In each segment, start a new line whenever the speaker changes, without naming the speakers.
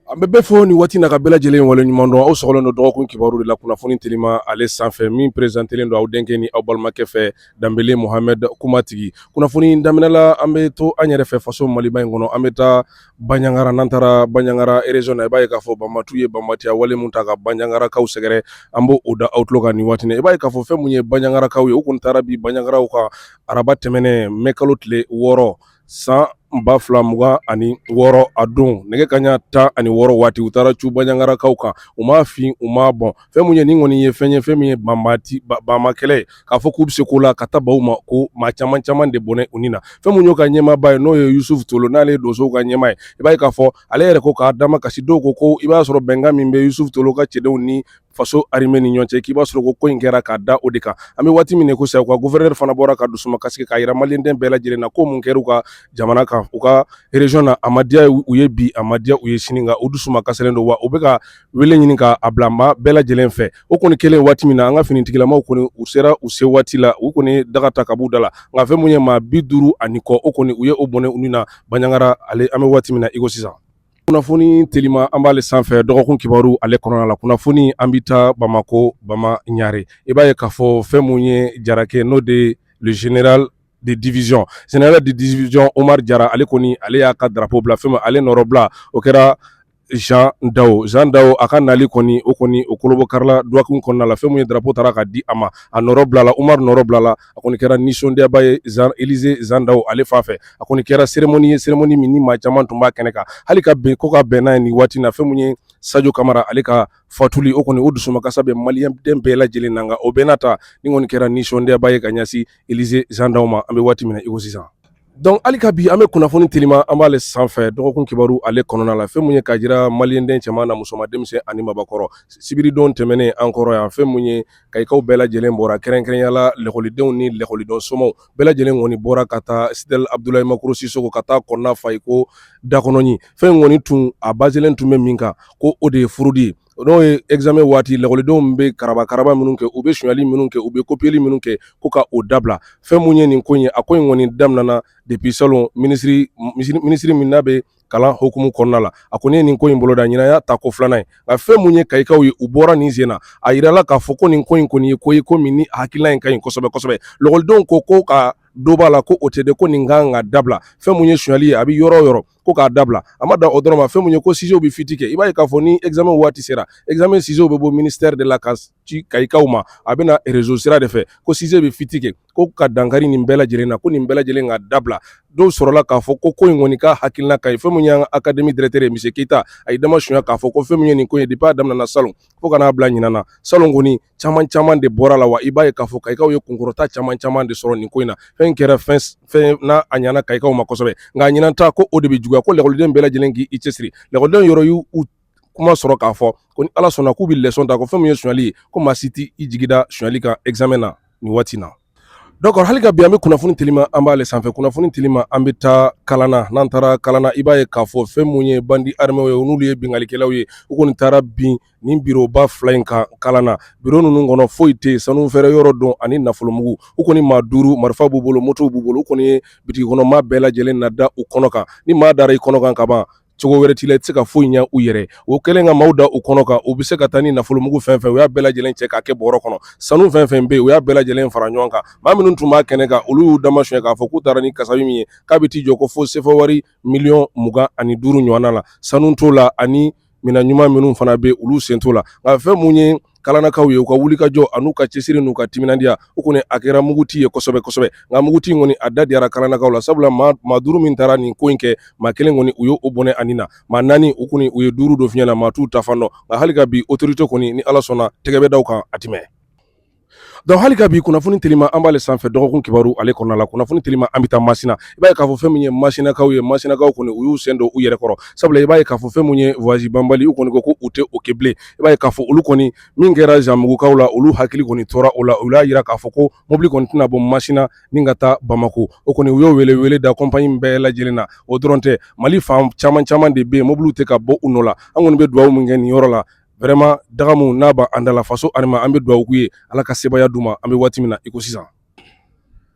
An bɛ bɛɛ fo nin waati na ka bɛɛ lajɛlen wale ɲuman dɔn aw sɔgɔlen don dɔgɔkun kibaru de la kunnafoni telima ale sanfɛ min presentelen don aw denkɛ ni aw balimakɛ fɛ Danbele Mohamed kumatigi kunnafoni in daminɛla an bɛ to an yɛrɛ fɛ faso maliba in kɔnɔ an bɛ taa Banjagara n'an taara Banjagara région na i b'a ye k'a fɔ banbatiw ye banbatiya wale min ta ka Banjagarakaw sɛgɛrɛ an b'o da aw tulo kan nin waati i b'a ye k'a fɔ fɛn min ye Banjagarakaw ye u tun taara bin Banjagarakaw kan araba tɛmɛnen mɛ kalo tile wɔɔrɔ san ba fila mugan ani wɔɔrɔ a don nɛgɛ kaɲa tan ani wɔɔrɔ waati u taara cun Banjagarakaw kan u m'a fin u m'a bɔn fɛn min ye nin kɔni ye fɛn ye fɛn min ye banbati banma kɛlɛ ye k'a fɔ k'u bɛ se ko la ka taa baw ma ko maa caman caman de bɔnɛ u ni na fɛn min y'o ka ɲɛmaaba ye n'o ye yusufu tolo n'ale ye donsow ka ɲɛmaa ye i b'a ye k'a fɔ ale yɛrɛ ko k'a damakasi dɔw ko ko i b'a sɔrɔ bɛnkan min bɛ yusufu tolo ka cɛdenw ni faso arime ni ɲɔgɔn cɛ k'i b'a sɔrɔ ko ko in kɛra k'a da o de kan an bɛ waati min ko sisan u ka gufɛrɛnɛrɛ fana bɔra ka dusumakasi sigi k'a jira maliden bɛɛ lajɛlen na ko mun kɛra u ka jamana kan u ka rez na a madiya ye u ye bi a madiya u ye sini u dusumakasilen don wa u bɛ ka wele ɲini k'a bila maa bɛɛ lajɛlen fɛ o kɔni kɛlen waati min na an ka finitigilamaw kɔni u sera u se waati la u kɔni daga ta ka b'u da la nka fɛn mun ye maa bi duuru ani kɔ o kɔni u ye o bɔnɛ u ni na Banjagara ale an bɛ waati min na iko sisan kunnafoni telima an b'ale sanfɛ dɔgɔkun kibaru ale kɔnɔna la kunnafoni an bɛ taa bamakɔ bama ɲare i b'a ye k'a fɔ fɛn mun ye Jarakɛ n'o de le general de division general de division omar jara ale kɔni ale y'a ka drapeau bila fɛn min ale nɔrɔbila o kɛra Jean Dao Jean Dao a ka nali kɔni o kɔni o kolobɔkarila duwawu kɔnɔna la fɛn min ye drapeau taara ka di a ma a nɔrɔ bilala Umaru nɔrɔ bilala a kɔni kɛra nisɔndiyaba ye Elize zan daw ale fan fɛ a kɔni kɛra cérémonie ye cérémonie min ni maa caman tun b'a kɛnɛ kan hali ka bɛn ko ka bɛn n'a ye nin waati in na fɛn mun ye Sajo Kamara ale ka fatuli o kɔni o dusumakasa bɛ maliyɛnden bɛɛ lajɛlen na nka o bɛɛ n'a ta nin kɔni kɛra nisɔndiyaba ye ka ɲɛsin Elize zan daw ma an bɛ waati min na i ko sisan Donc hali ka bi an bɛ kunnafoni telima an b'ale sanfɛ dɔgɔkun kibaru ale kɔnɔna la fɛn min ye k'a jira maliyɛnden cɛman na musoman denmisɛn ani maabakɔrɔ sibiridon tɛmɛnen an kɔrɔ yan fɛn mun ye Kayikaw bɛɛ lajɛlen bɔra kɛrɛnkɛrɛnya la lakɔlidenw ni lakɔliden somɔgɔw bɛɛ lajɛlen kɔni bɔra ka taa stade Abdulayi Makɔrɔ Sisoko ka taa kɔnɔna fa iko da kɔnɔ ɲin fɛn kɔni tun a bazelen tun bɛ min kan ko o de ye furudi ye n'o ye examen waati lakɔlidenw bɛ karabakaraba minnu kɛ u bɛ sonyali minnu kɛ u bɛ kopiyeli minnu kɛ ko ka o dabila fɛn mun ye nin ko ye a ko in kɔni daminɛna depuis salon minisiri min n'a bɛ kalan hukumu kɔnɔna la a kɔni ye nin ko in boloda ɲinan y'a tako filanan ye nka fɛn mun ye Kayikaw ye u bɔra nin sen na a jirala k'a fɔ ko nin ko in kɔni ye ko ye ko min ni hakilila in ka ɲi kosɛbɛ kosɛbɛ lakɔlidenw ko ko ka dɔ b'a la ko o tɛ de ko nin kan ka dabila fɛn mun ye sonyali ye a bɛ yɔrɔ o yɔrɔ ko k'a dabila a ma da o dɔrɔn ma fɛn min ye ko sujetw bɛ fuite kɛ i b'a ye k'a fɔ ni examen waati sera examen sujetw bɛ bɔ ministère de la ka ci kayikaw ma a bɛ na réseau sira de fɛ ko sujet bɛ fuite kɛ ko ka dankari nin bɛɛ lajɛlen na ko nin bɛɛ lajɛlen ka dabila dɔw sɔrɔla k'a fɔ ko ko in kɔni ka hakilina ka ɲi fɛn min y'an ka académie directeur ye monsieur keyita a y'i dama suɲɛ k'a fɔ ko fɛn min ye nin ko in ye depuis a daminɛna salon fo ka n'a bila ɲinan na salon kɔni caman caman de bɔra la wa i b'a ye k'a fɔ kayikaw ye kunkɔrɔta caman caman de sɔrɔ nin ko in na fɛn kɛra fɛn n'a a ɲana kayikaw ma kosɛbɛ nka a ɲinan ta ko o de bɛ juguya ko lakɔliden bɛɛ lajɛlen k'i cɛsiri lakɔliden yɔrɔ y'u kuma sɔrɔ k'a fɔ ko ni ala sɔnna k'u bɛ leçon ta ko fɛn min ye sonyali ye ko maa si t'i jigi da sonyali kan examen na nin waati na Donc hali ka bi an bɛ kunnafoni telima an b'ale sanfɛ kunnafoni telima an bɛ taa kalana n'an taara kalana i b'a ye k'a fɔ fɛn mun ye bandi armɛw ye n'olu ye binkalikɛlaw ye u kɔni taara bin nin biroba fila in kan kalana biro ninnu kɔnɔ foyi tɛ yen sanu feere yɔrɔ don ani nafolomugu u kɔni maa duuru marifa b'u bolo motow b'u bolo u kɔni ye bitigi kɔnɔ maa bɛɛ lajɛlen lada u kɔnɔ kan ni maa dara i kɔnɔ kan ka ban cogo wɛrɛ t'i la i tɛ se ka foyi ɲɛ u yɛrɛ o kɛlen ka maaw da u kɔnɔ kan u bɛ se ka taa ni nafolomugu fɛn fɛn u y'a bɛɛ lajɛlen cɛ k'a kɛ bɔrɔ kɔnɔ sanu fɛn fɛn bɛ yen u y'a bɛɛ lajɛlen fara ɲɔgɔn kan maa minnu tun b'a kɛnɛ kan olu y'u dama suɲɛ k'a fɔ k'u taara ni kasabi min ye k'a bɛ t'i jɔ ko fo sefawari miliyɔn mugan ani duuru ɲɔgɔnna la sanu t'o la ani minɛn ɲuman minnu fana bɛ olu sen t'o la nka fɛn mun ye kalanakaw ye u ka wulikajɔ an'u ka cɛsiri n'u ka timinandiya o kɔni a kɛra muguti ye kosɛbɛ kosɛbɛ nka muguti in kɔni a da diyara kalanakaw la sabula maa maa duuru min taara nin ko in kɛ maa kelen kɔni u ye o bɔnɛ a ni na maa naani u kɔni u ye duuru don fiɲɛ na maa t'u taa fan dɔn nka hali ka bi autorité kɔni ni ala sɔnna tɛgɛ bɛ da u kan a tɛ mɛɛn donc hali ka bi kunnafoni telima an b'ale sanfɛ dɔgɔkun kibaru ale kɔnɔna la kunnafoni telima an bɛ taa masina i b'a ye k'a fɔ fɛn min ye masinakaw ye masinakaw kɔni u y'u sen don u yɛrɛ kɔrɔ sabula i b'a ye k'a fɔ fɛn min ye voyage banbali u kɔni ko ko u tɛ o kɛ bilen i b'a ye k'a fɔ olu kɔni min kɛra zanbugukaw la olu hakili kɔni tora o la u y'a yira k'a fɔ ko mobili kɔni tɛna bɔ masina ni ka taa bamakɔ o kɔni u y'o welewele da compagnie bɛɛ lajɛlen na o dɔrɔn tɛ mali fan caman caman de bɛ yen mobiliw tɛ ka bɔ u nɔ la an kɔni bɛ dugawu min kɛ nin yɔrɔ la vraiment dagamu n'a b'an da la faso armée an bɛ dugawu k'u ye ala ka sebaaya d'u ma an bɛ waati min na i ko sisan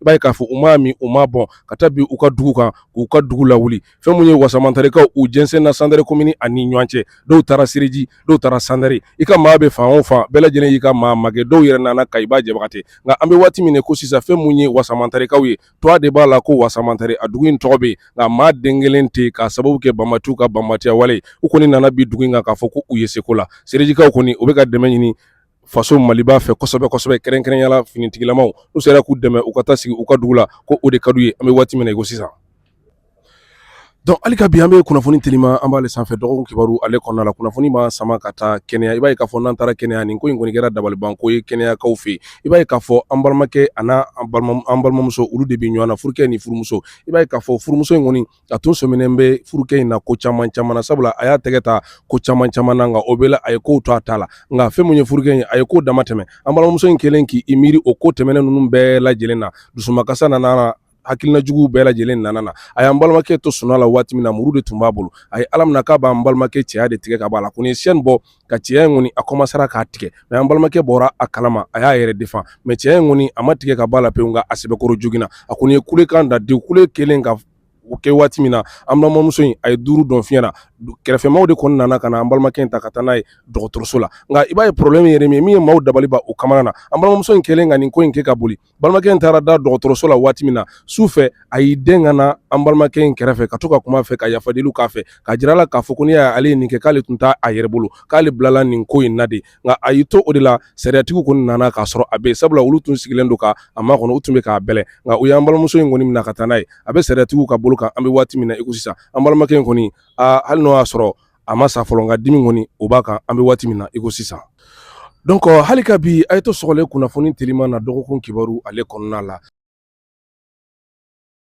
I b'a ye k'a fɔ u m'a min u m'a bɔn ka taa bin u ka dugu kan k'u ka dugu lawuli fɛn min ye wasamantarekaw u jɛnsɛnna sandare commune ani ɲɔgɔn cɛ dɔw taara sereji dɔw taara sandare i ka maa bɛ fan o fan bɛɛ lajɛlen y'i ka maa magɛn dɔw yɛrɛ nana kayiba jabate nka an bɛ waati min ko sisan fɛn min ye wasamantarekaw ye tɔgɔ de b'a la ko wasamantare a dugu in tɔgɔ bɛ yen nka maa den kelen tɛ yen k'a sababu kɛ banbaantiw ka banbaantiya wale u kɔni nana bin dugu in kan k'a fɔ ko u ye seko la serejikaw kɔni u bɛ ka dɛmɛ ɲini faso maliba fɛ kosɛbɛ kosɛbɛ kɛrɛnkɛrɛnyala finitigilamaw n'u sera k'u dɛmɛ u ka taa sigi u ka dugu la ko o de ka d'u ye an bɛ waati min na i ko sisan donc hali ka bi an bɛ kunnafoni telima an b'ale sanfɛ dɔgɔkun kibaru ale kɔnɔna la kunnafoni b'an sama ka taa kenya i b'a ye k'a fɔ n'an taara kenya nin ko in kɔni kɛra dabalibanko ye kenyakaw fɛ i b'a ye k'a fɔ an balimakɛ an'an balimamuso olu de bɛ ɲɔgɔn na furukɛ ni furumuso i b'a ye k'a fɔ furumuso in kɔni a tun sɔminen bɛ furukɛ in na ko caman caman na sabula a y'a tɛgɛ ta ko caman caman na nka o bɛɛ la a ye kow to a ta la nka fɛn min ye furukɛ in a ye ko dama tɛmɛ an balimamuso in kɛlen k'i miiri o ko tɛmɛnen ninnu bɛɛ lajɛlen na dusumakasa nana hakilina jugu bɛɛ lajɛlen nana na a y'an balimakɛ to sunaa la waati min na muru de tun b'a bolo a ye ala minɛ k'a b'an balimakɛ cɛya de tigɛ ka bɔ a la ko ni sɛni bɔ ka cɛya in kɔni a kɔmansera k'a tigɛ mɛ an balimakɛ bɔra a kalama a y'a yɛrɛ defan mɛ cɛya in kɔni a ma tigɛ ka bɔ a la pewu nka a sɛbɛkɔrɔ joginna a kɔni ye kulekan da de kule kelen ka o kɛ waati min na an balimamuso in a ye duuru don fiɲɛ na kɛrɛfɛmaaw de kɔni nana ka na an balimakɛ in ta ka taa n'a ye dɔgɔtɔrɔso la nka i b'a ye pɔrɔbulɛmu yɛrɛ min min ye maaw dabali ban u kamana na an balimamuso in kɛlen ka nin ko in kɛ ka boli balimakɛ in taara da dɔgɔtɔrɔso la waati min na su fɛ a y'i dɛn ka na an balimakɛ in kɛrɛfɛ ka to ka kuma a fɛ ka yafadeliw k'a fɛ ka jira a la k'a fɔ ko n'i y'a ye ale ye nin kɛ k'ale tun t'a a yɛrɛ bolo k'ale bilala nin ko in na de nka a y'i to o de la sariyatigiw kɔni nana k'a sɔrɔ a bɛ yen sabula olu tun sigilen don ka a makɔnɔ u tun bɛ k'a bɛlɛ nka u y'an balimamuso in kɔni minɛ ka taa n'a ye a bɛ sariyatigiw ka bolo kan an bɛ waati min na i ko sisan an balimakɛ in kɔni hali n'o y'a sɔrɔ a ma sa fɔlɔ nka dimi kɔni o b'a kan an bɛ waati min na iko sisan dɔnki hali ka bi a ye to sɔgɔlen kunnafoni teliman na dɔgɔkun kibaru ale kɔnɔna la